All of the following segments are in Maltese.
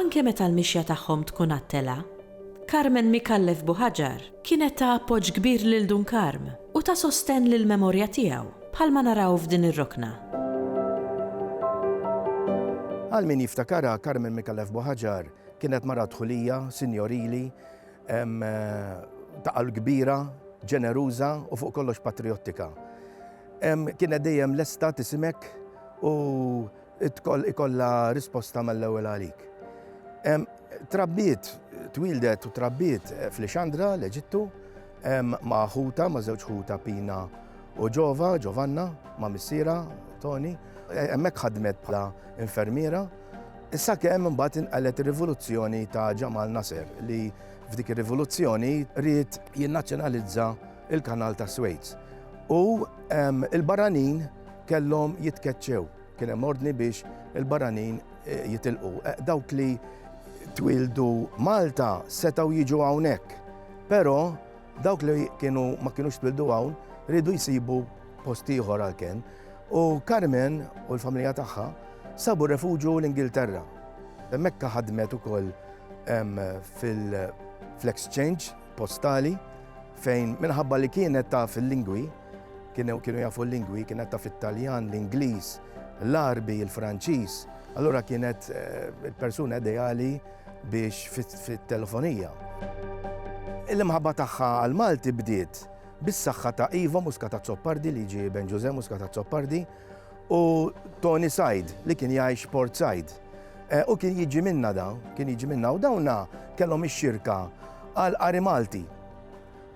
Anke meta l-mixja tagħhom tkun għat-telgħa, Carmen Micallef Buhajar kienet ta' appoġġ kbir lil Dun Karm u ta' sostenn lill-memorja tiegħu, bħalma naraw f'din ir-rokna. Għal min jiftakarha, Carmen Micallef Buhajar kienet mara dħulija, sinjorili, ta' qalb kbira, ġeneruża u fuq kollox patrijottika. Kienet dejjem lesta tisimek u Tkoll ikollha risposta mal-ewwel għalik. Trabbiet, twildet u trabbiet f'Lixandra, l-Eġittu, ma' ħuta, ma' żewġ ħuta Pina u Ġova, Ġovanna, ma' missiera Toni. Hemmhekk ħadmet bħala infermiera. Issa kemm imbagħad inqalgħet ir-rivoluzzjoni ta' Ġamal Nasser li f'dik ir-rivoluzzjoni ried jinnazzjonalizza il-Kanal tas-Suez. U l-barranin kellhom jitkeċċew. Kien hemm ordni biex il-barranin eh, jitilqu. Eh, dawk li twildu Malta setgħu jiġu hawnhekk. Però dawk li kienu ma kienux twildu hawn ridu jsibu post ieħor għalkemm. U Carmen u l-familja tagħha sabu refuġu l-Ingilterra. Mekka ħadmet ukoll fil-exchange postali fejn minħabba li kienet taf il-lingwi, kienu kienu jafu l-lingwi, kienet taf it-Taljan, l-Ingliż, l-Arbi, il-Franċiż, allura kienet eh, il-persuna ideali biex fit-telefonija. Il-imħabba tagħha għal Malti bdiet bis-saħħa ta' Ivo Muskata Zoppardi li ġie Ben Ġuże Muskata Zoppardi u Tony Said li kien jgħix Port Said. Eh, u kien jiġi minna da, kien jiġi minna u dawna kellhom ix-xirka għal qari Malti.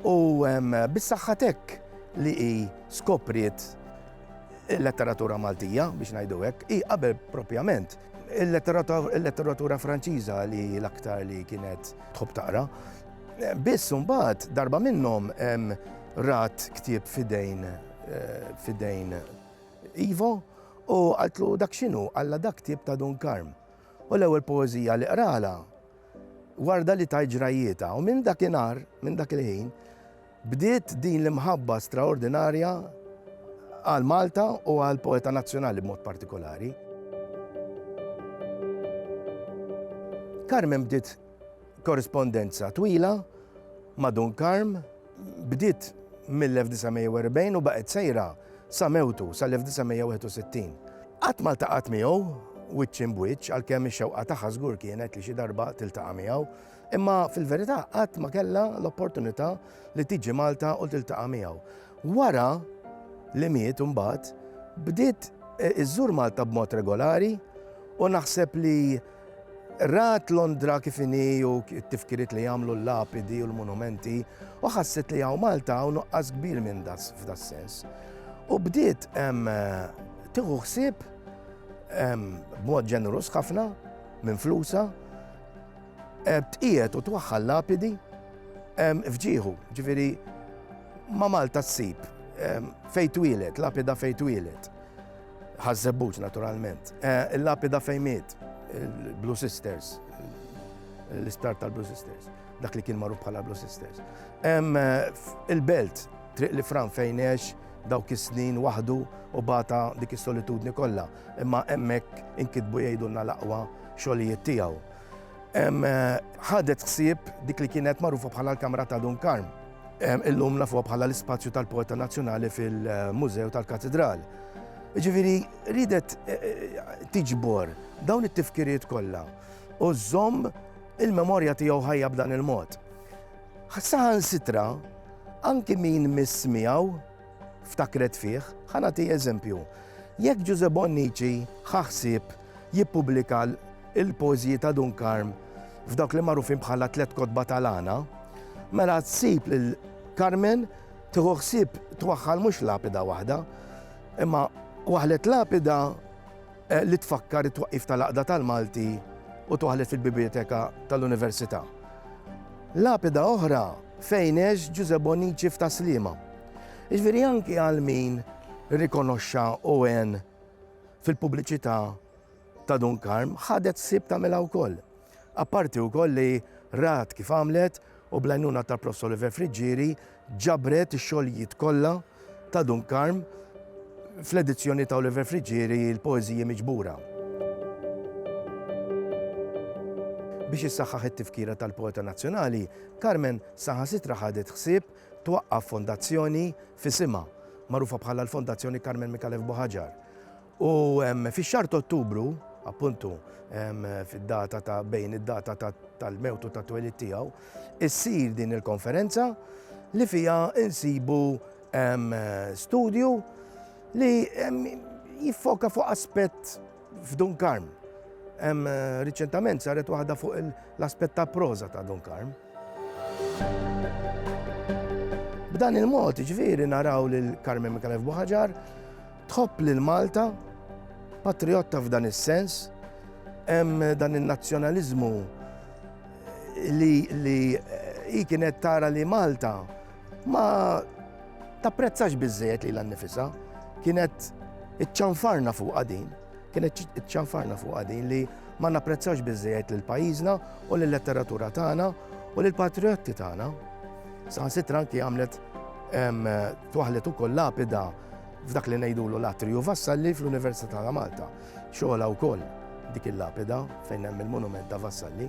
U bis-saħħatek li hi skopriet il-letteratura Maltija biex ngħidu hekk, hi qabel propjament il-letteratura Franċiża li l-aktar li kienet tħobb taqra. Eh, biss mbagħad darba minnhom rat ktieb fidejn Eh, fidejn Ivo u għaltlu dak xinu għalla dak tip ta' Dun Karm. U l-ewwel poezija li qrala warda li tajt ġrajjieta u minn dak inar, minn dak il-ħin, bdiet din l-imħabba straordinarja għal Malta u għal poeta nazzjonali b'mod partikolari. Carmen bdiet Korrispondenza twila ma' Dun Karm bdiet mill-1940 u baqgħet sejra sa mewtu sal-1961. Qatt ma ltaqgħet miegħu wiċċ imb'wiċċ għalkemm ix-xewqa tagħha żgur kienet li xi darba tiltaqa' miegħu, imma fil-verità qatt ma kellha l-opportunità li tiġi Malta u tiltaqa' miegħu. Wara li miet imbagħad bdiet iżżur Malta b'mod regolari u naħseb li Rat Londra kif inhi u t-tifkiriet li jagħmlu l-lapidi u l-munumenti u ħasset li hawn Malta hawn nuqqas kbir minn das f'das-sens. U bdiet tieħu ħsieb b'mod ġeneruż ħafna minn flusa tqiegħed u twaħħal lapidi f'ġieħu, ġifieri ma' Malta ssib fejn twieled, lapida fejn twieled. Ħaż-Żebbuġ naturalment. Eh, il-lapida fejn miet, il-Blue Sisters, l-isptar tal-Blue Sisters, dak li kien magħruf bħala Blue Sisters. Eh, il-belt, triq li fran fejn ex, dawk is-snin waħdu u bata dik is-solitudni kollha, imma hemmhekk inkitbu jgħidulna l-aqwa xogħlijiet tiegħu. Eh, ħadet ħsieb dik li kienet magħrufa bħala l-Kamra ta' Dun Karm Illum nafuha bħala l-ispazju tal-poeta nazzjonali fil-Mużew tal-Katedral. Ġifiri, ridet eh, eh, tiġbor dawn it-tifkiriet kollha u żomm il-memorja tiegħu ħajja b'dan il-mod. Saħan sitra, anki min miss miegħu ftakret fih, ħanati eżempju. Jekk Giuseppe Bonnici ħaħsib jippubblika l-poeżiji ta' Dun Karm f'dawk li magħrufin bħala Tliet Kotba tal-Għana, mela ssib lil Carmen tieħu ħsieb twaħħal mhux lapida waħda, imma waħlet lapida eh, li tfakkar it-twaqqif tal-Aqda tal-Malti u twaħlet fil-Biblioteka tal-Università. Lapida oħra fejnex Ġuże Bonici f'Taslima. Iġveri anki għal min rikonoxxa u għen fil-pubbliċità ta' Dun Karm ħadet sib tagħmilha wkoll. Apparti wkoll li rat kif għamlet u bl-għajnuna ta' Prof. Oliver Friġġieri ġabret ix-xogħlijiet kollha ta' Dun Karm fl-edizzjoni ta' Oliver Friġġieri l-poeżiji miġbura. Biex issaħħaħ it-tifkira tal-poeta nazzjonali, Carmen saħansitra ħadet ħsieb twaqqaf fondazzjoni f'isimha, magħrufa bħala l-Fondazzjoni Carmen Micallef Bohajar. U fix-xahar ta' Ottubru, appuntu fid-data ta' bejn id-data tal-mewtu ta' twelid tiegħu, issir din il-konferenza li fija insibu studju li jiffoka fuq aspett f'Dun Karm. Riċentament saret waħda fuq l-aspett ta' proza ta' Dun Karm. B'dan il-mod, jiġifieri naraw lil Carmen Micallef Buħaġar tħobb lil Malta, patrijotta f'dan is-sens, hemm dan in-nazzjonaliżmu li hi kienet tara li Malta ma tapprezzax biżżejjed lilha nnifisha, kienet iċċanfarna fuqha din. Kienet iċċanfarna fuqha din li ma napprezzawx biżżejjed lil pajjiżna u lil letteratura tagħna u lil patrijotti tagħna. Saħansitra anki għamlet twaħlet ukoll lapida f'dak li ngħidulu l-atriju Vassalli fl-Università ta' Malta. Xogħla wkoll dik il-lapida fejn hemm il-monument ta' Vassalli.